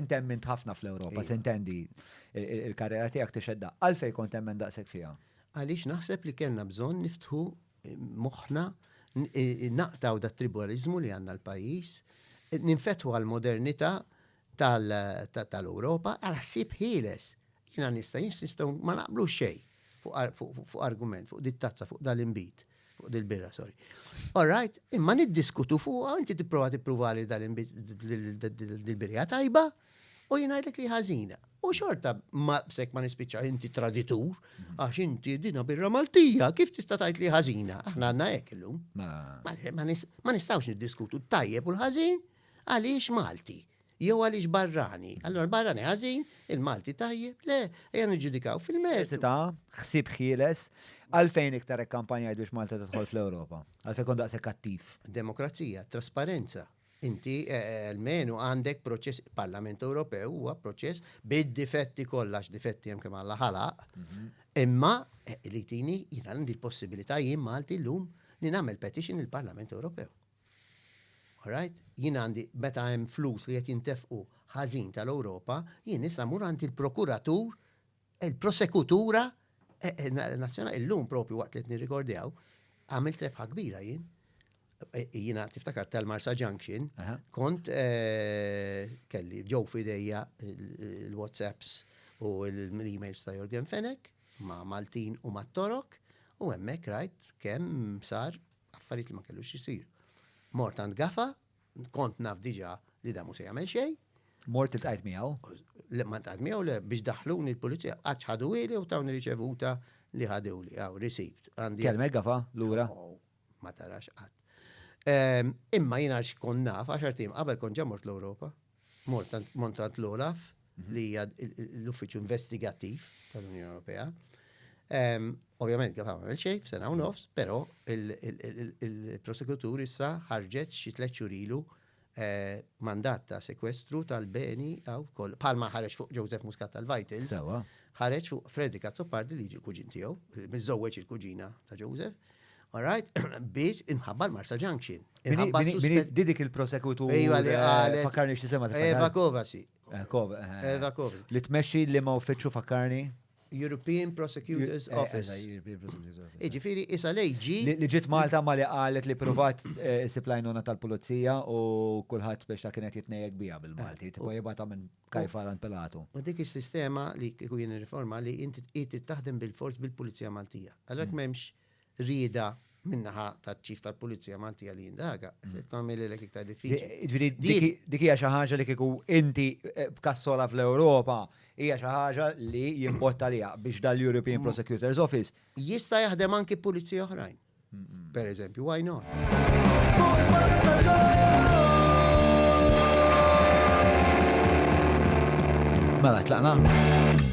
Inti emmint ħafna fl-Ewropa, iva. sintendi il-karriera tiegħek tixedda. Għalfej kont emmen daqshekk fiha? Għaliex naħseb li kellna bżonn niftħu eh, moħħna eh, naqtaw da tribalizmu li għandna l-pajjiż, ninfetħu għal-modernità tal-Ewropa għal ħsieb ħieles. Jiena nista' jinsistu ma naqblu xejn fuq argument, fuq dittazza, fuq dal-imbit. Fuq dil-birra, sorry. All right, imma niddiskutu fuqha, inti tipprova tipprova li dil-birja tajba u jingħidlek li ħażina. U xorta ma bsek ma nispiċċa inti traditur għax inti dina birra Maltija, kif tista' tgħid li ħażina? Aħna għandna hekk illum. Mela. Ma nistgħux niddiskutu tajjeb u l-ħażin għaliex Malti. jew għaliex barrani. Allora l-barrani ħażin, il-Malti tajjeb, le, ejja niġġudikaw fil-merz. Ta' ħsib ħieles, għalfejn iktar kampanja biex Malta tidħol fl-Ewropa? Għalfejn kon daqshekk kattiv? Demokrazija, trasparenza. Inti eh, eh, almenu għandek proċess Parlament Ewropew huwa proċess bid-difetti kollax difetti hemm kemm għalla ħalaq. Mhm. Imma eh, li tini jina għandi l-possibilità jien Malti llum li nagħmel petition il-Parlament Ewropew. Alright? Jien għandi, meta hemm flus li qed jintefqu ħażin tal-Ewropa, jien issa mmur għand il-prokuratur, il-prosekutura nazzjonali. Illum propju waqt li qed nirrikordjaw, għamilt rebħa kbira jien. Jiena tiftakar tal-Marsa Junction, kont eh, kelli ġew fidejja l-WhatsApps u l-emails ta' Jorgen Fenek ma' Maltin u ma' Torok u hemmhekk rajt kemm sar Affarijiet li ma kellux jisir. Mort għand gafa, kont naf diġa li damu se jagħmel xejn. Mort il-tqajt miegħu? Le ma tqajt miegħu le biex daħluni l-pulizija qatt ħadu ili u tawni riċevuta li ħadewli għaw received. Kelmek gafa lura? Oh, ma tarax qatt. Ehm, imma jiena xkon naf għaxar tim qabel kont ġamort l-Ewropa Mort għand l-OLAF li hija l-uffiċċju investigattiv tal-Unjoni Ewropea. Ovvjament kif għamel xejn f'sena u nofs, però il-prosekutur issa ħarġet xi tliet xhur ilu eh, mandat ta' sekwestru tal-beni għaw kol. Palma ħareġ fuq Joseph Muscat tal-Vitals. Sewa. Ħareġ fuq Frederick Azzopardi li ġi l-kuġin tiegħu, miżżewweġ il-kuġina ta' Joseph. All right? Biex inħabba l-Marsa Junction. Inħabba Di dik il-prosekutur. Ejwa li għalet. Fakkarni x'tisema ta' Eva Kovasi. Eh, eh, Eva Kovasi. Li tmexxi li ma uffiċċju fakkarni? European Prosecutors eh, Office. Iġifiri, isa lejġi. Li ġit Malta ma li għalet li provat siplajnuna tal-pulizija u kullħat biex ta' kienet jitnejek bija bil-Malti. Tipo jibata minn kajfa għan pelatu. U dik il-sistema li kujin riforma li inti taħdem bil-fors bil-pulizija Maltija. Għalek memx mm. rieda minnaħa taċ-ċif tal-Pulizija Maltija li jindaga, mm. tagħmel lek iktar diffiċli. Dik hija xi ħaġa li kieku inti eh, b'kassola fl-Ewropa hija xi ħaġa li jimbotta li biex dal-European mm. Prosecutors Office. Jista' jaħdem anki pulizija oħrajn. Per eżempju, why not? Mela, tlaqna.